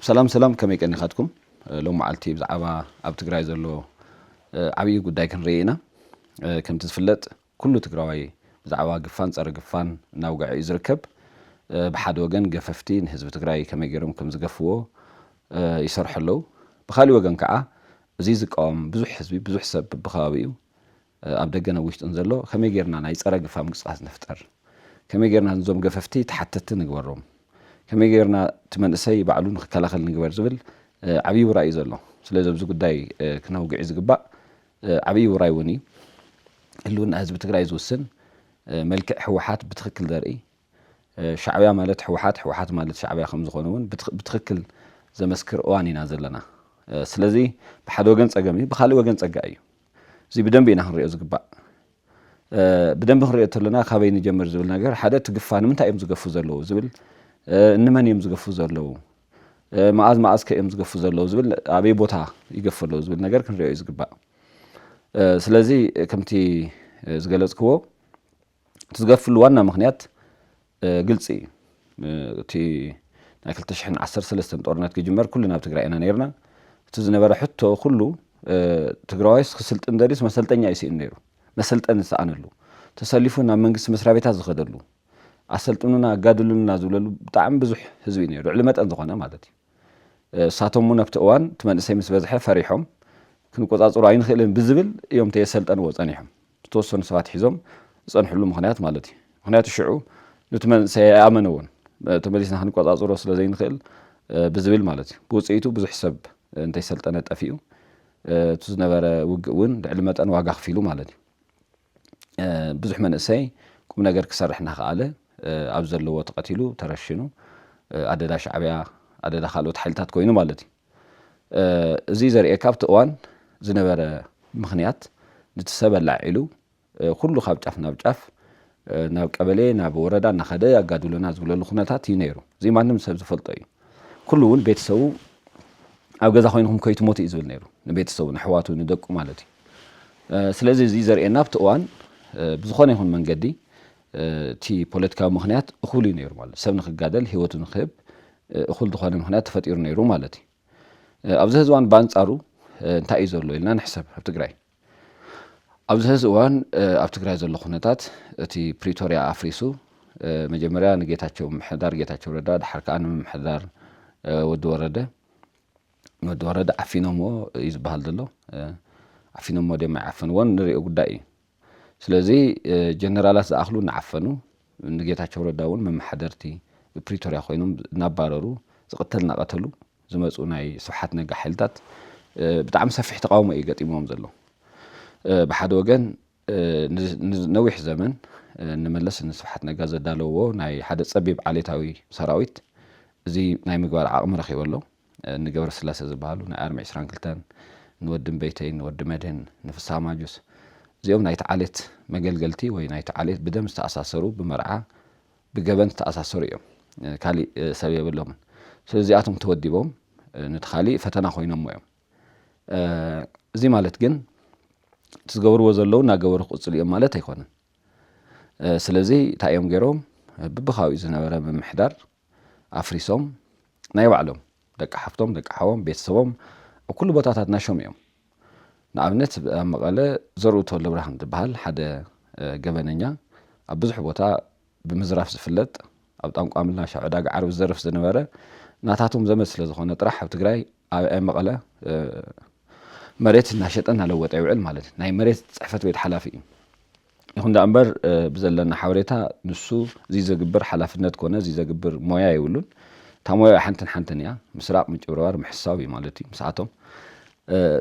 ሰላም ሰላም ከመይ ቀኒኻትኩም ሎም መዓልቲ ብዛዕባ ኣብ ትግራይ ዘሎ ዓብዪ ጉዳይ ክንርኢ ኢና ከምቲ ዝፍለጥ ኩሉ ትግራዋይ ብዛዕባ ግፋን ፀረ ግፋን እናውግዐ እዩ ዝርከብ ብሓደ ወገን ገፈፍቲ ንህዝቢ ትግራይ ከመይ ገይሮም ከም ዝገፍዎ ይሰርሑ ኣለዉ ብካሊእ ወገን ከዓ እዚ ዝቃወም ብዙሕ ህዝቢ ብዙሕ ሰብ ብከባቢኡ ኣብ ደገን ኣብ ውሽጥን ዘሎ ከመይ ጌርና ናይ ጸረ ግፋ ምንቅስቃስ ንፍጠር ከመይ ጌርና ንዞም ገፈፍቲ ተሓተቲ ንግበሮም ከመይ ጌርና እቲ መንእሰይ ባዕሉ ንክከላኸል ንግበር ዝብል ዓብይ ውራይ እዩ ዘሎ ስለዚ ኣብዚ ጉዳይ ክነውግዒ ዝግባእ ዓብይ ውራይ እውን እዩ ህልውና ህዝቢ ትግራይ ዝውስን መልክዕ ህወሓት ብትክክል ዘርኢ ሻዕብያ ማለት ህወሓት ህወሓት ማለት ሻዕብያ ከም ዝኾነ እውን ብትክክል ዘመስክር እዋን ኢና ዘለና ስለዚ ብሓደ ወገን ጸገም እዩ ብካልእ ወገን ጸጋ እዩ እዚ ብደንቢ ኢና ክንሪኦ ዝግባእ ብደንቢ ክንሪኦ ተለና ካበይ ንጀምር ዝብል ነገር ሓደ እቲ ግፋ ንምንታይ እዮም ዝገፉ ዘለዉ ዝብል እንመን እዮም ዝገፉ ዘለዉ መዓዝ መዓዝ ከ እዮም ዝገፉ ዘለዉ ዝብል ኣበይ ቦታ ይገፉ ኣለዉ ዝብል ነገር ክንሪኦ እዩ ዝግባእ ስለዚ ከምቲ ዝገለጽክዎ እቲ ዝገድፍሉ ዋና ምኽንያት ግልፂ እዩ። እቲ ናይ ክልተ ሽሕን ዓሰርተ ሰለስተን ጦርነት ክጅመር ኩልና ኣብ ትግራይ ኢና ነይርና። እቲ ዝነበረ ሕቶ ኩሉ ትግራዋይስ ክስልጥን ደልዩስ መሰልጠኛ እዩ ስኢኑ ነይሩ። መሰልጠኒ ዝሰኣነሉ፣ ተሰሊፉ ናብ መንግስቲ መስሪያ ቤታት ዝኸደሉ፣ ኣሰልጥኑና ኣጋድሉልና ዝብለሉ ብጣዕሚ ብዙሕ ህዝቢ እዩ ነይሩ። ልዕሊ መጠን ዝኾነ ማለት እዩ። እሳቶም እውን ኣብቲ እዋን እቲ መንእሰይ ምስ በዝሐ ፈሪሖም ክንቆፃፅሮ ኣይንኽእልን ብዝብል እዮም ተየሰልጠንዎ ፀኒሖም ዝተወሰኑ ሰባት ሒዞም ዝፀንሕሉ ምኽንያት ማለት እዩ ምኽንያቱ ሽዑ ኑቲ መንእሰይ ኣይኣመነዎን ተመሊስና ክንቆፃፅሮ ስለ ዘይንኽእል ብዝብል ማለት እዩ ብውፅኢቱ ብዙሕ ሰብ እንተይሰልጠነ ጠፊኡ እቲ ዝነበረ ውግእ እውን ልዕሊ መጠን ዋጋ ክፊሉ ማለት እዩ ብዙሕ መንእሰይ ቁምነገር ክሰርሕ እናኸኣለ ኣብ ዘለዎ ተቐቲሉ፣ ተረሺኑ፣ ኣደዳ ሻዕቢያ፣ ኣደዳ ካልኦት ሓይልታት ኮይኑ ማለት እዩ። እዚ ዘርእየካ ኣብቲ እዋን ዝነበረ ምኽንያት ንቲ ሰብ ኣላዒሉ ኩሉ ካብ ጫፍ ናብ ጫፍ ናብ ቀበሌ ናብ ወረዳ እናኸደ ኣጋድሎና ዝብለሉ ኩነታት እዩ ነይሩ። እዚ ማንም ሰብ ዝፈልጦ እዩ። ኩሉ እውን ቤተሰቡ ኣብ ገዛ ኮይንኩም ከይትሞቱ እዩ ዝብል ነይሩ ንቤተሰቡ ንኣሕዋቱ ንደቁ ማለት እዩ። ስለዚ እዚ ዘርእየና ኣብቲ እዋን ብዝኾነ ይኹን መንገዲ እቲ ፖለቲካዊ ምኽንያት እኹል እዩ ነይሩ ማለት ሰብ ንክጋደል ህይወቱ ንክህብ እኹል ዝኾነ ምኽንያት ተፈጢሩ ነይሩ ማለት እዩ ኣብዚ ህዚ እዋን በኣንጻሩ እንታይ እዩ ዘሎ ኢልና ንሕሰብ ኣብ ትግራይ ኣብዚ ህዚ እዋን ኣብ ትግራይ ዘሎ ኩነታት እቲ ፕሪቶሪያ ኣፍሪሱ መጀመርያ ንጌታቸው ምምሕዳር ጌታቸው ረዳ ድሓር ከዓ ንምምሕዳር ወዲ ወረደ ንወዲ ወረደ ዓፊኖምዎ እዩ ዝበሃል ዘሎ ዓፊኖምዎ ድዮም ኣይዓፈንዎን ንሪኦ ጉዳይ እዩ ስለዚ ጀነራላት ዝኣኽሉ እናዓፈኑ ንጌታቸው ረዳ እውን መመሓደርቲ ብፕሪቶርያ ኮይኖም እናባረሩ ዝቕተል እናቐተሉ ዝመፁ ናይ ስብሓት ነጋ ሓይልታት ብጣዕሚ ሰፊሕ ተቃውሞ እዩ ገጢሞም ዘሎ ብሓደ ወገን ነዊሕ ዘመን ንመለስ ንስብሓት ነጋ ዘዳለዎ ናይ ሓደ ፀቢብ ዓሌታዊ ሰራዊት እዚ ናይ ምግባር ዓቕሚ ረኪበ ኣሎ ንገብረስላሰ ዝብሃሉ ናይ ኣርሚ ዕስራን ክልተን፣ ንወዲ እምበይተይን ንወዲ መድህን፣ ንፍስሃ ማጁስ፣ እዚኦም ናይቲ ዓሌት መገልገልቲ ወይ ናይቲ ዓሌት ብደም ዝተኣሳሰሩ ብመርዓ ብገበን ዝተኣሳሰሩ እዮም። ካሊእ ሰብ የብሎምን። ስለዚ እዚኣቶም ተወዲቦም ነቲ ካሊእ ፈተና ኮይኖሞ እዮም። እዚ ማለት ግን እቲ ዝገብርዎ ዘለዉ እናገበሩ ክቕፅሉ እዮም ማለት ኣይኮነን። ስለዚ እንታይ እዮም ገይሮም ብብካባቢኡ ዝነበረ ምምሕዳር ኣፍሪሶም ናይ ባዕሎም ደቂ ሓፍቶም ደቂ ሓዎም ቤተሰቦም ኣብ ኩሉ ቦታታት ናሾም እዮም ንኣብነት ኣብ መቐለ ዘርኡ ተወልደብርሃን ዝበሃል ሓደ ገበነኛ ኣብ ብዙሕ ቦታ ብምዝራፍ ዝፍለጥ ኣብ ጣንቋ ምላሻ ዕዳጋ ዓርቢ ዝዘርፍ ዝነበረ ናታቶም ዘመድ ስለ ዝኾነ ጥራሕ ኣብ ትግራይ ኣብ መቐለ መሬት እናሸጠ እናለወጠ ይውዕል ማለት እዩ። ናይ መሬት ፅሕፈት ቤት ሓላፊ እዩ። ይኹን ደኣ እምበር ብዘለና ሓበሬታ ንሱ እዚ ዘግብር ሓላፍነት ኮነ እዚ ዘግብር ሞያ የብሉን። እታ ሞያ ሓንትን ሓንትን እያ፣ ምስራቕ፣ ምጭብርባር፣ ምሕሳው እዩ ማለት እዩ ምስኣቶም።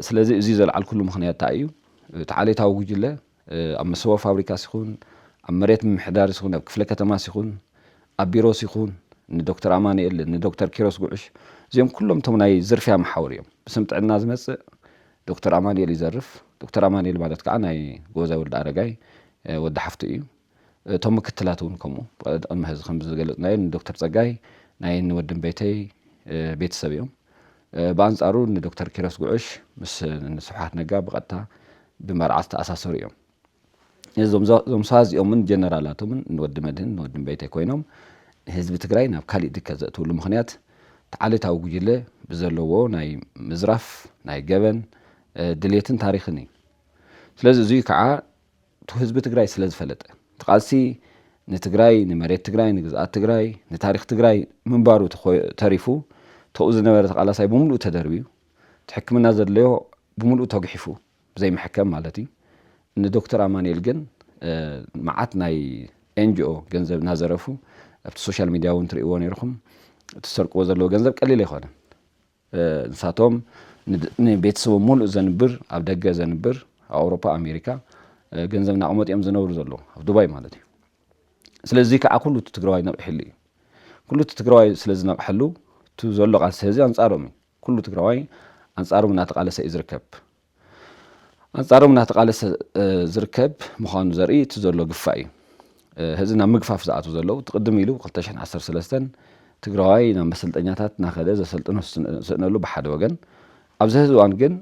ስለዚ እዚ ዘልዓልኩሉ ምኽንያት እንታይ እዩ፣ እቲ ዓሌታዊ ጉጅለ ኣብ መሰቦ ፋብሪካስ ይኹን፣ ኣብ መሬት ምምሕዳርስ ይኹን፣ ኣብ ክፍለ ከተማስ ይኹን፣ ኣብ ቢሮስ ይኹን፣ ንዶክተር ኣማኑኤል፣ ንዶክተር ኪሮስ ጉዕሽ፣ እዚኦም ኩሎም እቶም ናይ ዝርፍያ መሓውር እዮም። ብስም ጥዕና ዝመጽእ ዶክተር ኣማኑኤል ይዘርፍ፣ ዶክተር ኣማኑኤል ማለት ከኣ ናይ ጎበዛይ ወልደኣረጋይ ወዲ ሓፍቱ እዩ። እቶም ምክትላት እውን ከምኡ ቅድሚ ሕዚ ከም ዝገለጽናዮ ንዶክተር ጸጋይ ናይ ንወድን ቤተይ ቤተሰብ እዮም። ብኣንጻሩ ንዶክተር ኪሮስ ጉዕሽ ምስ ንስብሓት ነጋ ብቐጥታ ብመርዓ ዝተኣሳሰሩ እዮም። እዞም እዞም ሰባት እዚኦምን ጀነራላቶምን ንወዲ መድህን ንወድን ቤተይ ኮይኖም ንህዝቢ ትግራይ ናብ ካሊእ ድከት ዘእትውሉ ምኽንያት እቲ ዓሌታዊ ጉጅለ ብዘለዎ ናይ ምዝራፍ ናይ ገበን ድሌትን ታሪኽን እዩ። ስለዚ እዙይ ከዓ እቱ ህዝቢ ትግራይ ስለ ዝፈለጠ እቲ ቃልሲ ንትግራይ ንመሬት ትግራይ ንግዝኣት ትግራይ ንታሪኽ ትግራይ ምንባሩ ተሪፉ ተኡ ዝነበረ ተቃላሳይ ብምሉኡ ተደርብዩ እቲ ሕክምና ዘድለዮ ብምሉኡ ተጉሒፉ ብዘይ መሐከም ማለት እዩ እኒ ዶክተር ኣማኒኤል ግን መዓት ናይ ኤንጅኦ ገንዘብ ናዘረፉ ኣብቲ ሶሻል ሚድያ እውን ትርእይዎ ነይርኹም እቲ ዝሰርቅዎ ዘለዎ ገንዘብ ቀሊል ኣይኮነን ንሳቶም ንቤተሰቦም ሙሉእ ዘንብር ኣብ ደገ ዘንብር ኣብ ኣውሮፓ ኣሜሪካ ገንዘብ ናቕመጡ እዮም ዝነብሩ ዘለዉ ኣብ ዱባይ ማለት እዩ ስለዚ እዚ ከዓ ኩሉ እቲ ትግራዋይ ነቒሕሉ እዩ ኩሉ እቲ ትግራዋይ ስለ ዝነቕሐሉ እቲ ዘሎ ቃልሲ ህዚ ኣንፃሮም እዩ ኩሉ ትግራዋይ ኣንፃሮም እናተቓለሰ እዩ ዝርከብ ኣንጻሮም እናተቓለሰ ዝርከብ ምዃኑ ዘርኢ እቲ ዘሎ ግፋ እዩ። ህዚ ናብ ምግፋፍ ዝኣትው ዘለው እቲ ቅድም ኢሉ ክልተ ሽሕን ዓሰርተ ሰለስተን ትግራዋይ ናብ መሰልጠኛታት እናኸደ ዘሰልጥኖ ስእነሉ ብሓደ ወገን፣ ኣብዚ ህዚ እዋን ግን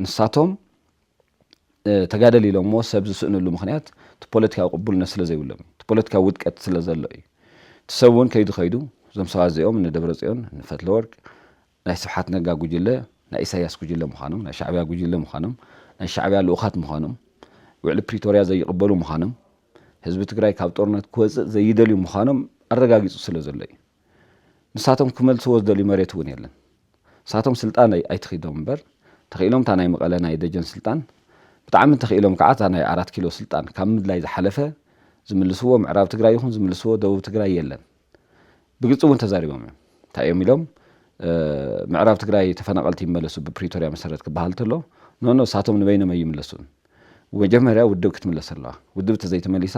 ንሳቶም ተጋደል ኢሎምዎ ሰብ ዝስእንሉ ምኽንያት እቲ ፖለቲካዊ ቅቡልነት ስለ ዘይብሎም እዩ። እቲ ፖለቲካዊ ውድቀት ስለ ዘሎ እዩ። እቲ ሰብ እውን ከይዱ ከይዱ እዞም ሰባት እዚኦም እነ ደብረጽዮን፣ እነ ፈትለወርቅ፣ ናይ ስብሓት ነጋ ጉጅለ ናይ ኢሳያስ ጉጅለ ምዃኖም፣ ናይ ሻዕቢያ ጉጅለ ምዃኖም፣ ናይ ሻዕቢያ ልኡኻት ምዃኖም፣ ውዕሊ ፕሪቶርያ ዘይቕበሉ ምዃኖም፣ ህዝቢ ትግራይ ካብ ጦርነት ክወፅእ ዘይደልዩ ምዃኖም ኣረጋጊፁ ስለ ዘሎ እዩ። ንሳቶም ክመልስዎ ዝደልዩ መሬት እውን የለን። ንሳቶም ስልጣን ኣይትኺዶም እምበር ተኺኢሎም እታ ናይ መቐለ ናይ ደጀን ስልጣን ብጣዕሚ እንተኺኢሎም ከዓ እታ ናይ ኣራት ኪሎ ስልጣን ካብ ምድላይ ዝሓለፈ ዝምልስዎ ምዕራብ ትግራይ ይኹን ዝምልስዎ ደቡብ ትግራይ የለን። ብግልፂ እውን ተዛሪቦም እዮም። እንታይ እዮም ኢሎም? ምዕራብ ትግራይ ተፈናቐልቲ ይመለሱ ብፕሪቶርያ መሰረት ክበሃል ተሎ ኖኖ ንሳቶም ንበይኖም ኣይምለሱን መጀመርያ ውድብ ክትምለስ ኣለዋ ውድብ ተዘይተመሊሳ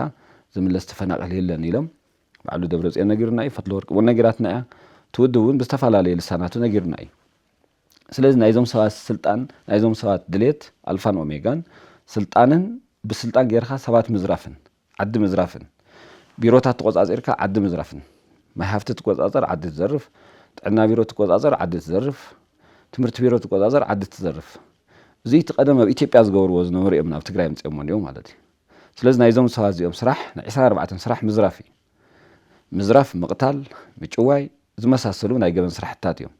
ዝምለስ ተፈናቐል የለን ኢሎም ባዕሉ ደብረፅዮን ነጊሩና እዩ ፈትለወርቂ እውን ነጊራትና እያ እቲ ውድብ እውን ብዝተፈላለየ ልሳናቱ ነጊሩና እዩ ስለዚ ናይዞም ሰባት ስልጣን ናይዞም ሰባት ድሌት ኣልፋን ኦሜጋን ስልጣንን ብስልጣን ጌርካ ሰባት ምዝራፍን ዓዲ ምዝራፍን ቢሮታት ተቖፃፂርካ ዓዲ ምዝራፍን ማይ ሃፍቲ ትቆፃፀር ዓዲ ትዘርፍ ጥዕና ቢሮ ትቆፃፀር ዓዲ ትዘርፍ ትምህርቲ ቢሮ ትቆፃፀር ዓዲ ትዘርፍ እዙይ እቲ ቀደም ኣብ ኢትዮጵያ ዝገብርዎ ዝነበሩ እዮም ናብ ትግራይ ምፅኦሞ እንዲኦም ማለት እዩ ስለዚ ናይዞም ሰባት እዚኦም ስራሕ ናይ ዕስራን ኣርባዕተን ስራሕ ምዝራፍ እዩ ምዝራፍ ምቕታል ምጭዋይ ዝመሳሰሉ ናይ ገበን ስራሕትታት እዮም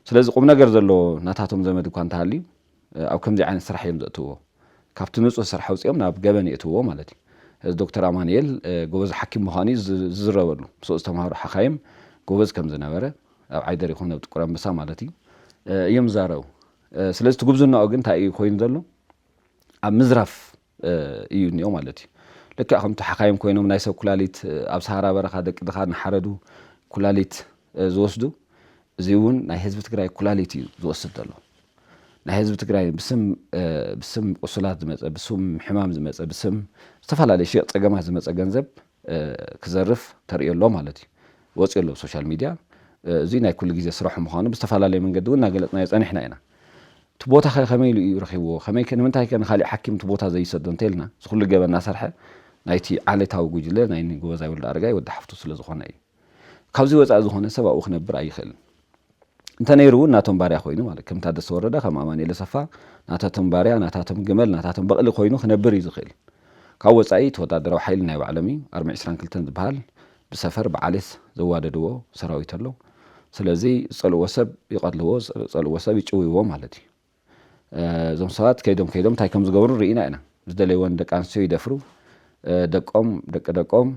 ስለዚ ቁም ነገር ዘለዎ ናታቶም ዘመድ እኳ እንተሃልዩ ኣብ ከምዚ ዓይነት ስራሕ እዮም ዘእትውዎ። ካብቲ ንጹህ ስራሕ ኣውጺኦም ናብ ገበን የእትውዎ ማለት እዩ። እዚ ዶክተር ኣማኒኤል ጎበዝ ሓኪም ምዃኑ እዩ ዝዝረበሉ። ምስኡ ዝተማህሩ ሓኻይም ጎበዝ ከም ዝነበረ፣ ኣብ ዓይደር ይኹን ኣብ ጥቁር ኣንበሳ ማለት እዩ፣ እዮም ዝዛረቡ። ስለዚ እቲ ጉብዝናኡ ግን እንታይ እዩ ኮይኑ ዘሎ? ኣብ ምዝራፍ እዩ እኒኦ ማለት እዩ። ልክዕ ከምቲ ሓካይም ኮይኖም ናይ ሰብ ኩላሊት ኣብ ሰሃራ በረኻ ደቂ ድኻ እናሓረዱ ኩላሊት ዝወስዱ እዚ እውን ናይ ህዝቢ ትግራይ ኩላሊት እዩ ዝወስድ ዘሎ። ናይ ህዝቢ ትግራይ ብስም ብስም ቁሱላት ዝመፀ ብስም ሕማም ዝመፀ ብስም ዝተፈላለዩ ሸየጥ ፀገማት ዝመፀ ገንዘብ ክዘርፍ ተርእዮ ኣሎ ማለት እዩ። ወጺኡ ኣሎ ብ ሶሻል ሚድያ። እዚ ናይ ኩሉ ግዜ ስራሑ ምዃኑ ብዝተፈላለየ መንገዲ እውን እናገለጽናዮ ጸኒሕና ኢና። እቲ ቦታ ከ ከመይ ኢሉ እዩ ረኺብዎ? ከመይ ከ ንምንታይ ከ ንኻሊእ ሓኪም እቲ ቦታ ዘይሰዶ እንተኢልና እዚ ኩሉ ገበን እናሰርሐ ናይቲ ዓሌታዊ ጉጅለ ናይ እኒ ጎበዛይ ወልደኣረጋይ ወዲ ሓፍቱ ስለ ዝኾነ እዩ። ካብዚ ወጻኢ ዝኾነ ሰብ ኣብኡ ክነብር ኣይኽእልን። እንተ ነይሩ እውን ናቶም ባርያ ኮይኑ ማለት ከም ታደሰ ወረደ ከም ኣማኒኤል ኣሰፋ ናታቶም ባርያ ናታቶም ግመል ናታቶም በቕሊ ኮይኑ ክነብር እዩ ዝኽእል። ካብ ወጻኢ እቲ ወታደራዊ ሓይሊ ናይ ባዕሎም እዩ ኣርሚ ዕስራን ክልተን ዝብሃል ብሰፈር ብዓሌት ዘዋደድዎ ሰራዊት ኣሎ። ስለዚ ዝጸልእዎ ሰብ ይቐትልዎ ዝጸልእዎ ሰብ ይጭውይዎ ማለት እዩ። እዞም ሰባት ከይዶም ከይዶም እንታይ ከም ዝገብሩ ርኢና ኢና ዝደለይዎን ደቂ ኣንስትዮ ይደፍሩ ደቆም ደቂ ደቆም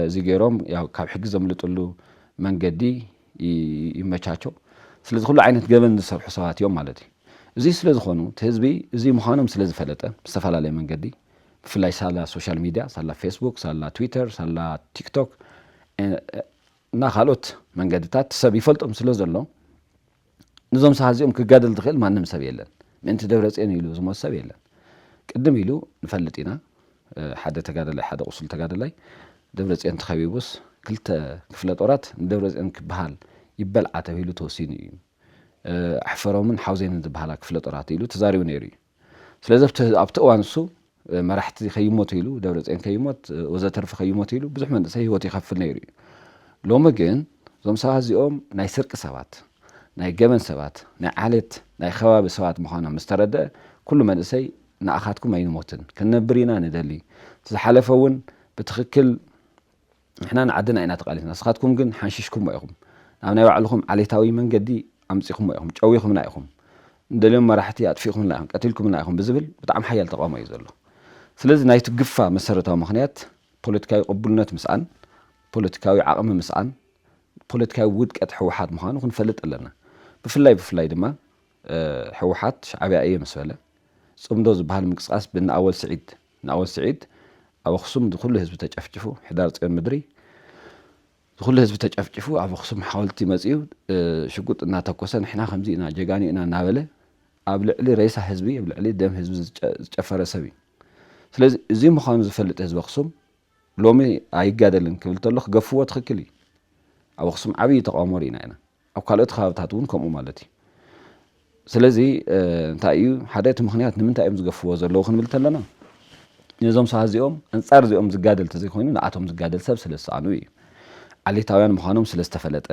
እዚ ገይሮም ያው ካብ ሕጊ ዘምልጥሉ መንገዲ ይመቻቾ ስለዚ ኩሉ ዓይነት ገበን ዝሰርሑ ሰባት እዮም ማለት እዩ እዚ ስለ ዝኾኑ እቲ ህዝቢ እዚ ምዃኖም ስለ ዝፈለጠ ብዝተፈላለየ መንገዲ ብፍላይ ሳላ ሶሻል ሚድያ ሳላ ፌስቡክ ሳላ ትዊተር ሳላ ቲክቶክ እና ካልኦት መንገድታት ሰብ ይፈልጦም ስለ ዘሎ ንዞም ሰሃት እዚኦም ክጋደል ዝኽእል ማንም ሰብ የለን ምእንቲ ደብረጽዮን ኢሉ ዝሞት ሰብ የለን ቅድም ኢሉ ንፈልጥ ኢና ሓደ ተጋደላይ ሓደ ቁሱል ተጋደላይ ደብረጽዮን ተኸቢቡስ ክልተ ክፍለ ጦራት ንደብረጽዮን ክበሃል ይበልዓ ተብሂሉ ተወሲኑ እዩ ኣሕፈሮምን ሓውዜንን ዝበሃላ ክፍለ ጦራት ኢሉ ተዛሪቡ ነይሩ እዩ ስለዚ ኣብቲ እዋን እሱ መራሕቲ ከይሞቱ ኢሉ ደብረፅዮን ከይሞት ወዘተርፈ ከይሞቱ ኢሉ ብዙሕ መንእሰይ ህይወቱ ይኸፍል ነይሩ እዩ። ሎሚ ግን እዞም ሰባት እዚኦም ናይ ስርቂ ሰባት፣ ናይ ገበን ሰባት፣ ናይ ዓሌት ናይ ኸባቢ ሰባት ምዃኖም ምስ ተረደኣ ኩሉ መንእሰይ ንኣኻትኩም ኣይንሞትን ክንነብር ኢና ንደሊ እቲ ዝሓለፈ እውን ብትኽክል ንሕና ንዓድና ኢና ተቃሊስና ንስኻትኩም ግን ሓንሺሽኩሞ ኢኹም ናብ ናይ ባዕልኹም ዓሌታዊ መንገዲ ኣምጺኹሞ ኢኹም ጨዊኹምና ኢኹም ንደልዮም መራሕቲ ኣጥፊእኩምልና ኢኹም ቀቲልኩምልና ኢኹም ብዝብል ብጣዕሚ ሓያል ተቃውሞ እዩ ዘሎ ስለዚ ናይቲ ግፋ መሰረታዊ ምኽንያት ፖለቲካዊ ቅቡልነት ምስኣን ፖለቲካዊ ዓቅሚ ምስኣን ፖለቲካዊ ውድቀት ህወሓት ምዃኑ ክንፈልጥ ኣለና ብፍላይ ብፍላይ ድማ ህወሓት ሻዕብያ እየ ምስ በለ፣ ፅምዶ ዝብሃል ምንቅስቓስ ብእነኣወል ስዒድ፣ እንኣወል ስዒድ ኣብ ኣኽሱም ዝኹሉ ህዝቢ ተጨፍጪፉ፣ ሕዳር ፅዮን ምድሪ ዝኹሉ ህዝቢ ተጨፍጪፉ ኣብ ኣኽሱም ሓወልቲ መፂኡ ሽጉጥ እናተኮሰ ንሕና ከምዚ ኢና ጀጋኑ ኢና እናበለ ኣብ ልዕሊ ሬሳ ህዝቢ ኣብ ልዕሊ ደም ህዝቢ ዝጨፈረ ሰብ እዩ። ስለዚ እዚ ምዃኑ ዝፈልጥ ህዝቢ ኣኽሱም ሎሚ ኣይጋደልን ክብል ተሎ ክገፍዎ ትኽክል እዩ። ኣብ ኣኽሱም ዓብዪ ተቃውሞ ርኢና ኢና። ኣብ ካልኦት ከባብታት እውን ከምኡ ማለት እዩ። ስለዚ እንታይ እዩ ሓደ እቲ ምክንያት ንምንታይ እዮም ዝገፍዎ ዘለዉ ክንብል ተለና ነዞም ሰባት እዚኦም ኣንጻር እዚኦም ዝጋደል ተዘይኮይኑ ንኣቶም ዝጋደል ሰብ ስለ ዝሰኣኑ እዩ። ዓሌታውያን ምዃኖም ስለ ዝተፈለጠ፣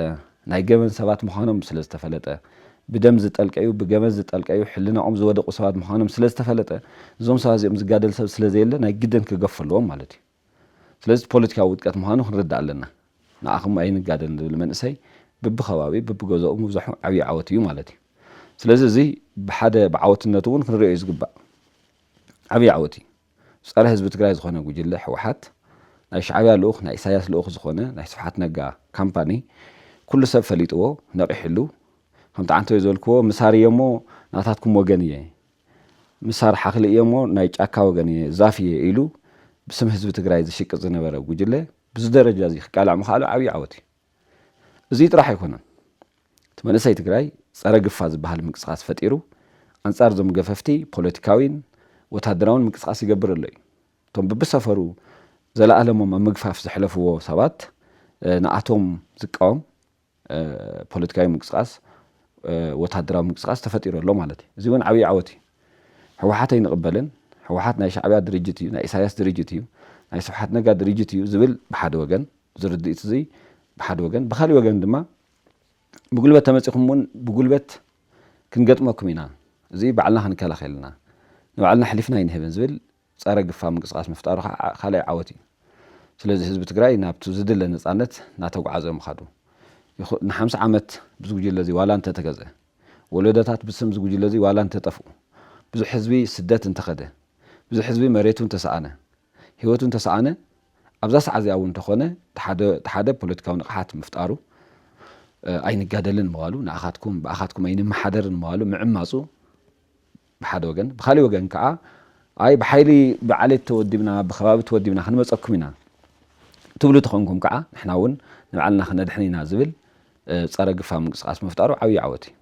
ናይ ገበን ሰባት ምዃኖም ስለ ዝተፈለጠ፣ ብደም ዝጠልቀዩ ብገበን ዝጠልቀዩ ሕልናኦም ዝወደቑ ሰባት ምዃኖም ስለ ዝተፈለጠ እዞም ሰባት እዚኦም ዝጋደል ሰብ ስለ ዘየለ ናይ ግድን ክገፉ ኣለዎም ማለት እዩ። ስለዚ እቲ ፖለቲካዊ ውድቀት ምዃኑ ክንርዳእ ኣለና። ንዓኹም ኣይንጋደል ዝብል መንእሰይ ብብከባቢ ብብገዘኡ ምብዛሑ ዓብዪ ዓወት እዩ ማለት እዩ። ስለዚ እዚ ብሓደ ብዓወትነቱ እውን ክንሪኦ እዩ ዝግባእ። ዓብዪ ዓወት እዩ። ፀረ ህዝቢ ትግራይ ዝኾነ ጉጅለ ህወሓት፣ ናይ ሻዕብያ ልኡኽ ናይ ኢሳያስ ልኡኽ ዝኾነ ናይ ስብሓት ነጋ ካምፓኒ ኩሉ ሰብ ፈሊጥዎ ነቒሕሉ ከምቲ ዓንተቦይ ዝበልክዎ ምሳር እየ እሞ ናታትኩም ወገን እየ፣ ምሳር ሓኽሊ እየ'ሞ ናይ ጫካ ወገን እየ፣ ዛፍ እየ ኢሉ ብስም ህዝቢ ትግራይ ዝሽቅጥ ዝነበረ ጉጅለ ብዚ ደረጃ እዚ ክቃላዕ ምኽኣሉ ዓብዪ ዓወት እዩ። እዙይ ጥራሕ ኣይኮነን እቲ መንእሰይ ትግራይ ፀረ ግፋ ዝበሃል ምንቅስቓስ ፈጢሩ ኣንፃር እዞም ገፈፍቲ ፖለቲካዊን ወታደራውን ምንቅስቓስ ይገብር ኣሎ እዩ። እቶም ብብሰፈሩ ዘለኣለሞም ኣብ ምግፋፍ ዘሕለፍዎ ሰባት ንኣቶም ዝቃወም ፖለቲካዊ ምንቅስቓስ፣ ወታደራዊ ምንቅስቓስ ተፈጢሩ ኣሎ ማለት እዩ። እዚ እውን ዓብዪ ዓወት እዩ። ህወሓት ኣይንቕበልን፣ ህወሓት ናይ ሻዕብያ ድርጅት እዩ፣ ናይ ኢሳያስ ድርጅት እዩ፣ ናይ ስብሓት ነጋ ድርጅት እዩ ዝብል ብሓደ ወገን፣ እዚ ርድኢት እዚ ብሓደ ወገን፣ ብኻሊእ ወገን ድማ ብጉልበት ተመፂኹም እውን ብጉልበት ክንገጥመኩም ኢና፣ እዚ ባዕልና ክንከላኸል ኢና፣ ንባዕልና ኣሕሊፍና ኣይንህብን ዝብል ፀረ ግፋ ምንቅስቃስ ምፍጣሩ ከዓ ካልኣይ ዓወት እዩ። ስለዚ ህዝቢ ትግራይ ናብቱ ዝድለ ነፃነት ናተጉዓዘ ምኻዱ። ንሓምሳ ዓመት ብዚ ጉጅለ እዚ ዋላ እንተተገዘ፣ ወለዶታት ብስም እዚ ጉጅለ እዚ ዋላ እንተጠፍኡ፣ ብዙሕ ህዝቢ ስደት እንተኸደ፣ ብዙሕ ህዝቢ መሬቱ እንተሰኣነ፣ ህይወቱ እንተሰኣነ፣ ኣብዛ ሰዓት እዚኣ እውን እንተኾነ ተሓደ ፖለቲካዊ ንቕሓት ምፍጣሩ፣ ኣይንጋደልን ምባሉ፣ ንኣኻትኩም ብኣኻትኩም ኣይንመሓደርን ምባሉ፣ ምዕማፁ ብሓደ ወገን፣ ብኻሊእ ወገን ከኣ ኣይ ብሓይሊ ብዓሌት ተወዲብና ብከባቢ ተወዲብና ክንመጸኩም ኢና ትብሉ ተኾንኩም ከኣ ንሕና እውን ንባዕልና ክነድሕን ኢና ዝብል ጸረ ግፋ ምንቅስቃስ ምፍጣሩ ዓብይ ዓወት እዩ።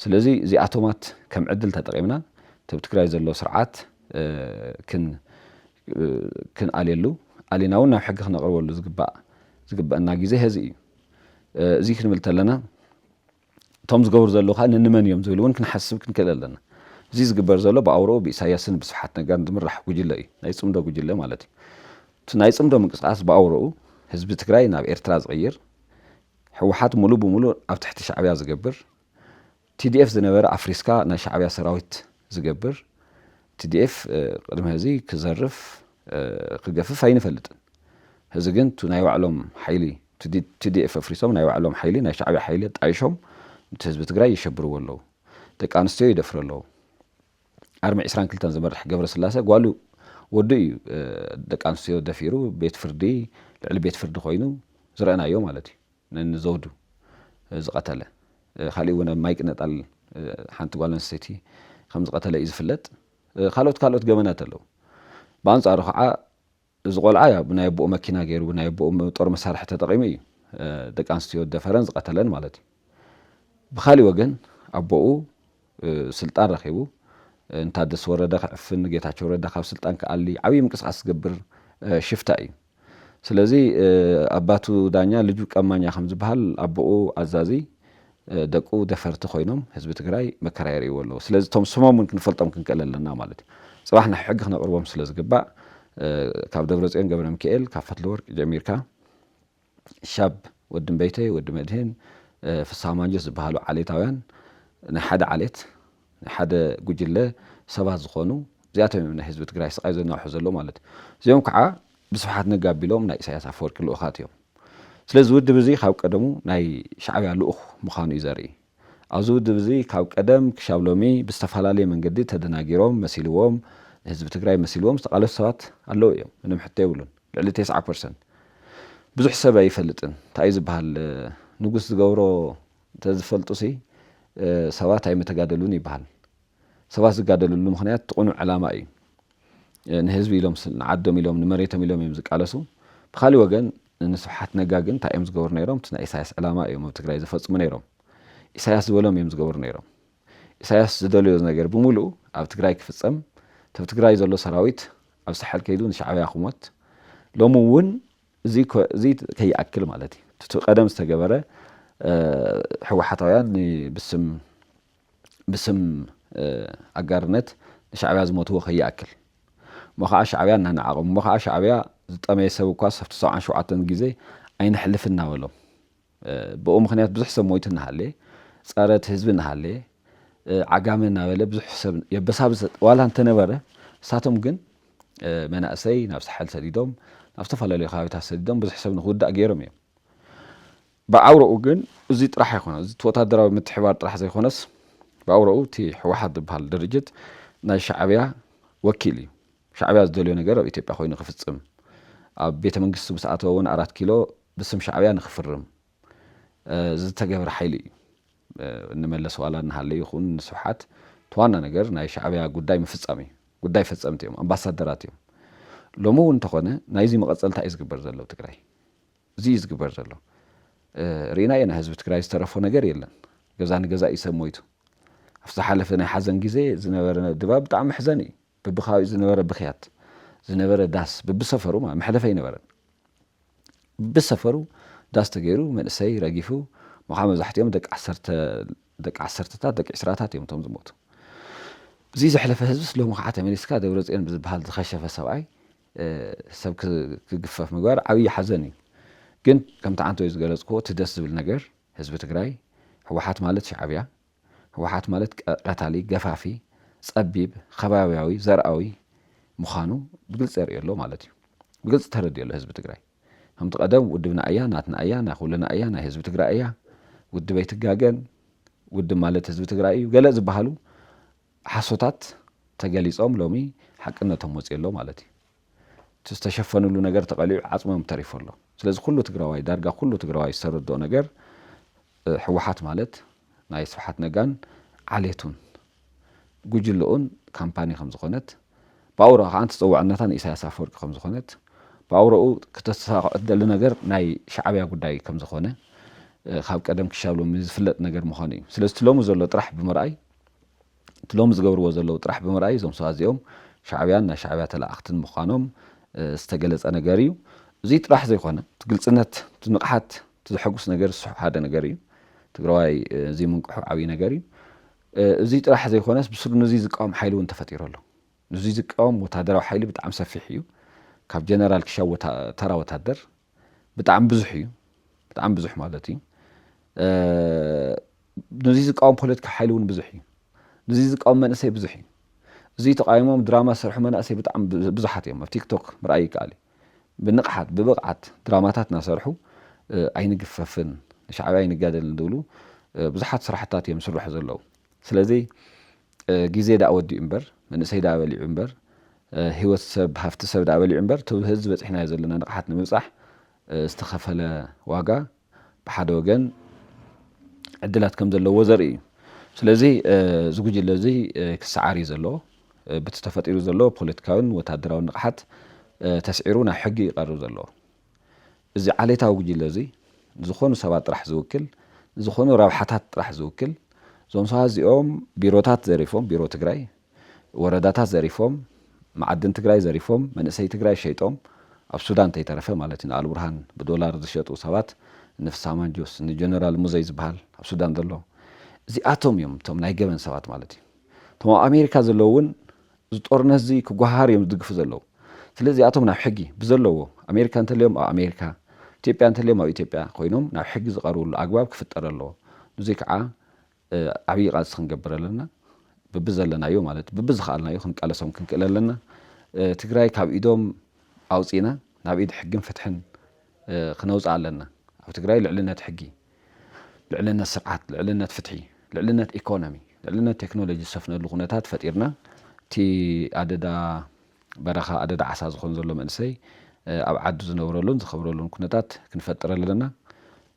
ስለዚ እዚኣቶማት ከም ዕድል ተጠቂምና እቲኣብ ትግራይ ዘሎ ስርዓት ክን ክንኣልየሉ ኣሊና እውን ናብ ሕጊ ክነቅርበሉ ዝግባእ ዝግበእና ግዜ ሀዚ እዩ። እዙይ ክንብል ተለና እቶም ዝገብሩ ዘለዉ ከኣ ንንመን እዮም ዝብል እውን ክንሓስብ ክንክእል ኣለና። እዚ ዝግበር ዘሎ ብኣውርኡ ብኢሳይያስን ብስብሓት ነጋን ዝምራሕ ጉጅለ እዩ፣ ናይ ጽምዶ ጉጅለ ማለት እዩ። እቲ ናይ ጽምዶ ምንቅስቓስ ብኣውርኡ ህዝቢ ትግራይ ናብ ኤርትራ ዝቕይር፣ ህወሓት ምሉእ ብምሉእ ኣብ ትሕቲ ሻዕብያ ዝገብር፣ TDF ዝነበረ ኣፍሪስካ ናይ ሻዕብያ ሰራዊት ዝገብር፣ TDF ቅድሚ ሀዚ ክዘርፍ፣ ክገፍፍ ኣይንፈልጥን ህዚ ግን እቲ ናይ ባዕሎም ሓይሊ TDF ኣፍሪሶም ናይ ባዕሎም ሓይሊ ናይ ሻዕብያ ሓይሊ ኣጣይሾም ንቲ ህዝቢ ትግራይ ይሸብርዎ ኣለው ደቂ ኣንስትዮ ይደፍሩ ኣለው ኣርሚ ዕስራን ክልተን ዝመርሕ ገብረስላሰ ጓሉ ወዱ እዩ ደቂ ኣንስትዮ ደፊሩ ቤት ፍርዲ ልዕሊ ቤት ፍርዲ ኮይኑ ዝረእናዮ ማለት እዩ ንዘውዱ ዝቐተለ ካሊእ እውን ኣብ ማይ ቅነጣል ሓንቲ ጓል ኣንስተይቲ ከም ዝቐተለ እዩ ዝፍለጥ ካልኦት ካልኦት ገበናት ኣለዉ። ብኣንጻሩ ኸዓ እዚ ቆልዓ ያው ብናይ ኣቦኡ መኪና ገይሩ ብናይ ኣቦኡ ጦር መሳርሒ ተጠቒሙ እዩ ደቂ ኣንስትዮ ዝደፈረን ዝቐተለን ማለት እዩ። ብኻሊእ ወገን ኣቦኡ ስልጣን ረኺቡ ንታደሰ ወረደ ክዕፍን፣ ጌታቸው ረዳ ካብ ስልጣን ክኣሊ ዓብዪ ምንቅስቓስ ዝገብር ሽፍታ እዩ። ስለዚ ኣባቱ ዳኛ ልጁ ቀማኛ ከም ዝበሃል ኣቦኡ ኣዛዚ ደቁ ደፈርቲ ኮይኖም ህዝቢ ትግራይ መከራ የርእይዎ ኣለዉ። ስለዚ እቶም ስሞም እውን ክንፈልጦም ክንክእል ኣለና ማለት እዩ። ፅባሕ ንሕጊ ክነቕርቦም ስለ ዝግባእ ካብ ደብረፅዮን ገብረምኪኤል ካብ ፈትለወርቅ ጀሚርካ ክሻብ ወዲ እምበይተይ፣ ወዲ መድህን፣ ፍስሃ ማንጁስ ዝበሃሉ ዓሌታውያን ናይ ሓደ ዓሌት ሓደ ጉጅለ ሰባት ዝኾኑ እዚኣቶም እዮም ንህዝቢ ትግራይ ስቓይ ዘናውሑ ዘለዉ ማለት እዩ። እዚኦም ከዓ ብስብሓት ነጋ ኣቢሎም ናይ ኢሳያስ ኣፈወርቂ ልኡኻት እዮም። ስለዚ እዚ ውድብ እዚ ካብ ቀደሙ ናይ ሻዕብያ ልኡኽ ምዃኑ እዩ ዘርኢ። ኣብዚ ውድብ እዚ ካብ ቀደም ክሻብ ሎሚ ብዝተፈላለየ መንገዲ ተደናጊሮም መሲልዎም ንህዝቢ ትግራይ መሲልዎም ዝተቓለሱ ሰባት ኣለዉ እዮም። ምንም ሕቶ የብሉን። ልዕሊ ቴስዓ ፐርሰንት ብዙሕ ሰብ ኣይፈልጥን። እንታይ እዩ ዝበሃል ንጉስ ዝገብሮ እንተዝፈልጡሲ ሰባት ኣይምተጋደሉን ይበሃል። ሰባት ዝጋደልሉ ምኽንያት እቲ ቅኑዕ ዕላማ እዩ። ንህዝቢ ኢሎም፣ ንዓዶም ኢሎም፣ ንመሬቶም ኢሎም እዮም ዝቃለሱ። ብኻሊእ ወገን ንስብሓት ነጋ ግን እንታይ እዮም ዝገብሩ ነይሮም? እቲ ናይ ኢሳያስ ዕላማ እዮም ኣብ ትግራይ ዘፈፅሙ ነይሮም። ኢሳያስ ዝበሎም እዮም ዝገብሩ ነይሮም። ኢሳያስ ዝደለዮ ነገር ብምሉኡ ኣብ ትግራይ ክፍፀም፣ እቲ ኣብ ትግራይ ዘሎ ሰራዊት ኣብ ሳሕል ከይዱ ንሻዕብያ ክሞት፣ ሎሚ እውን እዚ ከይኣክል ማለት እዩ እቲ ቀደም ዝተገበረ ህወሓታውያን ብስም ኣጋርነት ንሻዕብያ ዝሞትዎ ከይኣክል እሞ ከዓ ሻዕብያ እናነዓቖም እሞ ከዓ ሻዕብያ ዝጠመየ ሰብ እኳስ ኣብቲ ሰብዓን ሸውዓተን ግዜ ኣይነሕልፍን እናበሎም ብኡ ምክንያት ብዙሕ ሰብ ሞይቱ እናሃለየ፣ ጸረ እቲ ህዝቢ እናሃለየ፣ ዓጋመ እናበለ ብዙሕ ሰብ የበሳብስ ዋላ እንተነበረ፣ ንሳቶም ግን መናእሰይ ናብ ሳሕል ሰዲዶም፣ ናብ ዝተፈላለዩ ከባቢታት ሰዲዶም ብዙሕ ሰብ ንክውዳእ ገይሮም እዮም። ብኣውራኡ ግን እዚ ጥራሕ ኣይኮነን። እዚ እቲ ወታደራዊ ምትሕብባር ጥራሕ ዘይኮነስ፣ ብኣውራኡ እቲ ህወሓት ዝበሃል ድርጅት ናይ ሻዕብያ ወኪል እዩ። ሻዕብያ ዝደልዮ ነገር ኣብ ኢትዮጵያ ኮይኑ ክፍጽም፣ ኣብ ቤተ መንግስቱ ምስ ኣተወ እውን ኣራት ኪሎ ብስም ሻዕብያ ንክፍርም ዝተገብረ ሓይሊ እዩ። ንመለስ ዋላ እናሃለዩ ይኹን ንስብሓት እቲ ዋና ነገር ናይ ሻዕብያ ጉዳይ ምፍጻም እዩ። ጉዳይ ፈጸምቲ እዮም። ኣምባሳደራት እዮም። ሎሚ እውን እንተኾነ ናይዚ መቐጸልታ እዩ ዝግበር ዘሎ ኣብ ትግራይ። እዚ እዩ ዝግበር ዘሎ። ርኢና ኢና ህዝቢ ትግራይ ዝተረፎ ነገር የለን። ገዛ ንገዛ እዩ ሰብ ሞይቱ። ኣብ ዝሓለፈ ናይ ሓዘን ግዜ ዝነበረ ድባብ ብጣዕሚ መሕዘኒ እዩ። በብከባቢኡ ዝነበረ ብኽያት ዝነበረ ዳስ በብሰፈሩ ማለት መሕለፊ ኣይነበረን ብብሰፈሩ ዳስ ተገይሩ መንእሰይ ረጊፉ ምዃ መብዛሕትኦም ደቂ ዓሰርተ ደቂ ዓሰርተታት ደቂ ዕስራታት እዮም እቶም ዝሞቱ እዚ ዘሕለፈ ህዝብስ ሎሚ ከዓ ተመሊስካ ደብረፅዮን ብዝበሃል ዝኸሸፈ ሰብኣይ ሰብ ክግፈፍ ምግባር ዓብዪ ሓዘን እዩ ግን ከምቲ ዓንተወይ ዝገለፅክዎ እቲ ደስ ዝብል ነገር ህዝቢ ትግራይ ህወሓት ማለት ሻዕብያ ህወሓት ማለት ቀታሊ፣ ገፋፊ፣ ፀቢብ፣ ኸባቢያዊ፣ ዘርኣዊ ምዃኑ ብግልፂ የርእዮ ኣሎ ማለት እዩ። ብግልፂ ተረዲኡ ኣሎ ህዝቢ ትግራይ። ከምቲ ቀደም ውድብና እያ፣ ናትና እያ፣ ናይ ኹልና እያ፣ ናይ ህዝቢ ትግራይ እያ፣ ውድብ ኣይትጋገን፣ ውድብ ማለት ህዝቢ ትግራይ እዩ ገለ ዝበሃሉ ሓሶታት ተገሊፆም ሎሚ ሓቅነቶም ወፂኡ ኣሎ ማለት እዩ። እቲ ዝተሸፈንሉ ነገር ተቐሊዑ ዓፅሞም ተሪፉ ኣሎ። ስለዚ ኩሉ ትግራዋይ ዳርጋ ኩሉ ትግራዋይ ዝተረድኦ ነገር ህወሓት ማለት ናይ ስብሓት ነጋን ዓሌቱን ጉጅልኡን ካምፓኒ ከምዝኾነት ብኣውርኡ ከዓ ተፀዋዕነታ ንኢሳያስ ኣፈወርቂ ከምዝኾነት ብኣውርኡ ክተሳኽዖ እትደሊ ነገር ናይ ሻዕብያ ጉዳይ ከምዝኾነ ካብ ቀደም ክሻብ ሎሚ ዝፍለጥ ነገር ምዃኑ እዩ። ስለዚ እቲ ሎሚ ዘሎ ጥራሕ ብምርኣይ እቲ ሎሚ ዝገብርዎ ዘለዉ ጥራሕ ብምርኣይ እዞም ሰባት እዚኦም ሻዕብያን ናይ ሻዕብያ ተለኣኣኽትን ምዃኖም ዝተገለፀ ነገር እዩ። እዙይ ጥራሕ ዘይኮነ እቲ ግልፅነት፣ እቲ ንቕሓት፣ እቲ ዘሐጉስ ነገር እሱ ሓደ ነገር እዩ። ትግራዋይ እዙይ ምንቅሑ ዓብዪ ነገር እዩ። እዙይ ጥራሕ ዘይኮነስ ብስሩ ንዙይ ዝቃወም ሓይሊ እውን ተፈጢሩ ኣሎ። ንዙይ ዝቃወም ወታደራዊ ሓይሊ ብጣዕሚ ሰፊሕ እዩ። ካብ ጀነራል ክሻብ ተራ ወታደር። ብጣዕሚ ብዙሕ እዩ ብጣዕሚ ብዙሕ ማለት እዩ ነዚ ዝቃወም ፖለቲካ ሓይሊ እውን ብዙሕ እዩ ነዚ ዝቃወም መንእሰይ ብዙሕ እዩ እዚ ተቃይሞም ድራማ ዝሰርሑ መናእሰይ ብጣዕሚ ብዙሓት እዮም ኣብ ቲክቶክ ምርኣይ ይከኣል እዩ ብንቕሓት ብብቕዓት ድራማታት እናሰርሑ ኣይንግፈፍን ንሻዕብያ ኣይንጋደልን ዝብሉ ብዙሓት ስራሕታት እዮም ስርሑ ዘለዉ ስለዚ ግዜ ድኣ ወዲኡ እምበር መንእሰይ ድኣ በሊዑ እምበር ሂወት ሰብ ሃፍቲ ሰብ ድኣ በሊዑ እምበር እቲ ሀዚ በጺሕናዮ ዘለና ንቕሓት ንምብጻሕ ዝተኸፈለ ዋጋ ብሓደ ወገን ዕድላት ከም ዘለዎ ዘርኢ እዩ። ስለዚ እዚ ጉጅለ እዚ ክሰዓር እዩ ዘለዎ ብቲ ተፈጢሩ ዘሎ ፖለቲካዊን ወታደራዊን ንቕሓት ተስዒሩ ናብ ሕጊ እዩ ቀርብ ዘለዎ። እዚ ዓሌታዊ ጉጅለ እዚ ንዝኾኑ ሰባት ጥራሕ ዝውክል፣ ንዝኾኑ ረብሓታት ጥራሕ ዝውክል፣ እዞም ሰባት እዚኦም ቢሮታት ዘሪፎም፣ ቢሮ ትግራይ፣ ወረዳታት ዘሪፎም፣ መዓድን ትግራይ ዘሪፎም፣ መንእሰይ ትግራይ ሸይጦም፣ ኣብ ሱዳን እንተይተረፈ ማለት እዩ፣ ንኣልቡርሃን ብዶላር ዝሸጡ ሰባት፣ እኒ ፍስሃ ማንጁስ፣ እኒ ጀነራል ሙዘይ ዝበሃል ኣብ ሱዳን ዘሎ፣ እዚኣቶም እዮም እቶም ናይ ገበን ሰባት ማለት እዩ። እቶም ኣብ ኣሜሪካ ዘለዉ እውን እዚ ጦርነትዚ ክጓሃሃር እዮም ዝድግፉ ዘለዉ ስለዚ እዚኣቶም ናብ ሕጊ ብዘለዎ ኣሜሪካ እንተልዮም ኣብ ኣሜሪካ ኢትዮጵያ እንተልዮም ኣብ ኢትዮጵያ ኮይኖም ናብ ሕጊ ዝቐርብሉ ኣግባብ ክፍጠር ኣለዎ ኑዙይ ከዓ ዓብይ ቓልሲ ክንገብር ኣለና ብብዘለናዮ ማለት ብብዝኸኣልናዮ ክንቃለሶም ክንክእል ኣለና ትግራይ ካብ ኢዶም ኣውፂእና ናብ ኢድ ሕግን ፍትሕን ክነውጽእ ኣለና። ኣብ ትግራይ ልዕልነት ሕጊ፣ ልዕልነት ስርዓት፣ ልዕልነት ፍትሒ፣ ልዕልነት ኢኮኖሚ፣ ልዕልነት ቴክኖሎጂ ዝሰፍነሉ ኩነታት ፈጢርና እቲ ኣደዳ በረኻ ኣደዳ ዓሳ ዝኾን ዘሎ መንእሰይ ኣብ ዓዱ ዝነብረሉን ዝኸብረሉን ኩነታት ክንፈጥር ኣለና።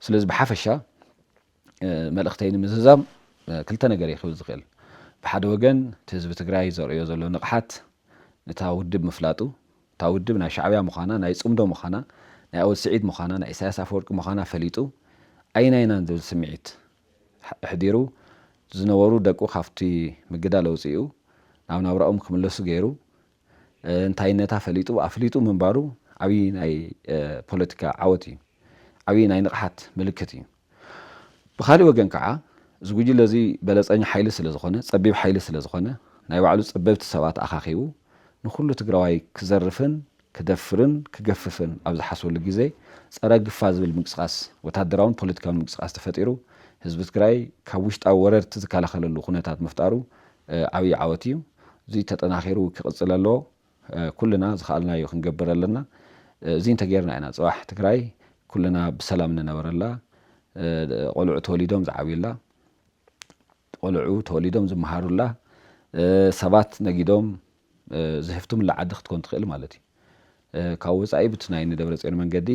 ስለዚ ብሓፈሻ መልእኽተይ ንምዝዛም ክልተ ነገር እየ ክብል ዝኽእል። ብሓደ ወገን እቲ ህዝቢ ትግራይ ዘርእዮ ዘሎ ንቕሓት ንታ ውድብ ምፍላጡ፣ እታ ውድብ ናይ ሻዕብያ ምዃና፣ ናይ ፅምዶ ምዃና፣ ናይ ኣወል ስዒድ ምዃና፣ ናይ ኢሳያስ ኣፈወርቂ ምዃና ፈሊጡ ኣይናይናን ዝብል ስምዒት ኣሕዲሩ ዝነበሩ ደቁ ካብቲ ምግዳል ኣውፂኡ ናብ ናብራኦም ክምለሱ ገይሩ እንታይነታ ፈሊጡ ኣፍሊጡ ምንባሩ ዓብዪ ናይ ፖለቲካ ዓወት እዩ። ዓብዪ ናይ ንቕሓት ምልክት እዩ። ብኻሊእ ወገን ከዓ እዚ ጉጅለ እዚ በለፀኛ ሓይሊ ስለ ዝኾነ፣ ፀቢብ ሓይሊ ስለ ዝኾነ፣ ናይ ባዕሉ ፀበብቲ ሰባት ኣኻኺቡ ንኹሉ ትግራዋይ ክዘርፍን ክደፍርን ክገፍፍን ኣብ ዝሓስበሉ ግዜ ፀረ ግፋ ዝብል ምንቅስቓስ ወታደራውን ፖለቲካውን ምንቅስቓስ ተፈጢሩ ህዝቢ ትግራይ ካብ ውሽጣዊ ወረርቲ ዝከላኸለሉ ኩነታት ምፍጣሩ ዓብይ ዓወት እዩ እዙይ ተጠናኺሩ ክቕፅል ኣለዎ ኩልና ዝኸኣልናዮ ክንገብር ኣለና እዙይ እንተገይርና ኢና ፅባሕ ትግራይ ኩልና ብሰላም ንነበረላ ቆልዑ ተወሊዶም ዝዓብዩላ ቆልዑ ተወሊዶም ዝመሃሩላ ሰባት ነጊዶም ዘሕፍትምላ ዓዲ ክትኮን ትኽእል ማለት እዩ። ካብ ወፃኢ ብቲ ናይ ንደብረፅዮን መንገዲ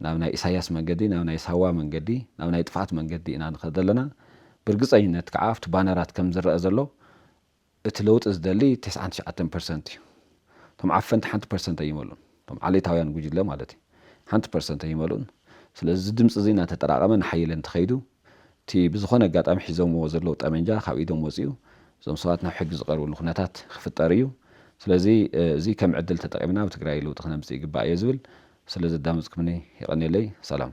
ናብ ናይ ኢሳያስ መንገዲ ናብ ናይ ሳዋ መንገዲ ናብ ናይ ጥፍኣት መንገዲ ኢና ንኸድ ዘለና። ብርግፀኝነት ከዓ ኣብቲ ባነራት ከም ዝረኣ ዘሎ እቲ ለውጢ ዝደሊ ቴስዓን ትሽዓተን ፐርሰንት እዩ። እቶም ዓፈንቲ ሓንቲ ፐርሰንት ኣይመልኡን። እቶም ዓሌታውያን ጉጅለ ማለት እዩ ሓንቲ ፐርሰንት ኣይመልኡን ስለዚ እዚ ድምፂ እዚ እናተጠራቐመ እናሓየለ እንተኸይዱ እቲ ብዝኾነ ኣጋጣሚ ሒዞምዎ ዘለዉ ጠመንጃ ካብ ኢዶም ወፂኡ እዞም ሰባት ናብ ሕጊ ዝቐርብሉ ኩነታት ክፍጠር እዩ ስለዚ እዚ ከም ዕድል ተጠቒምና ኣብ ትግራይ ለውጢ ክነምፅእ ይግባእ እየ ዝብል ስለ ዘዳመፅኩምኒ የቐንየለይ ሰላም።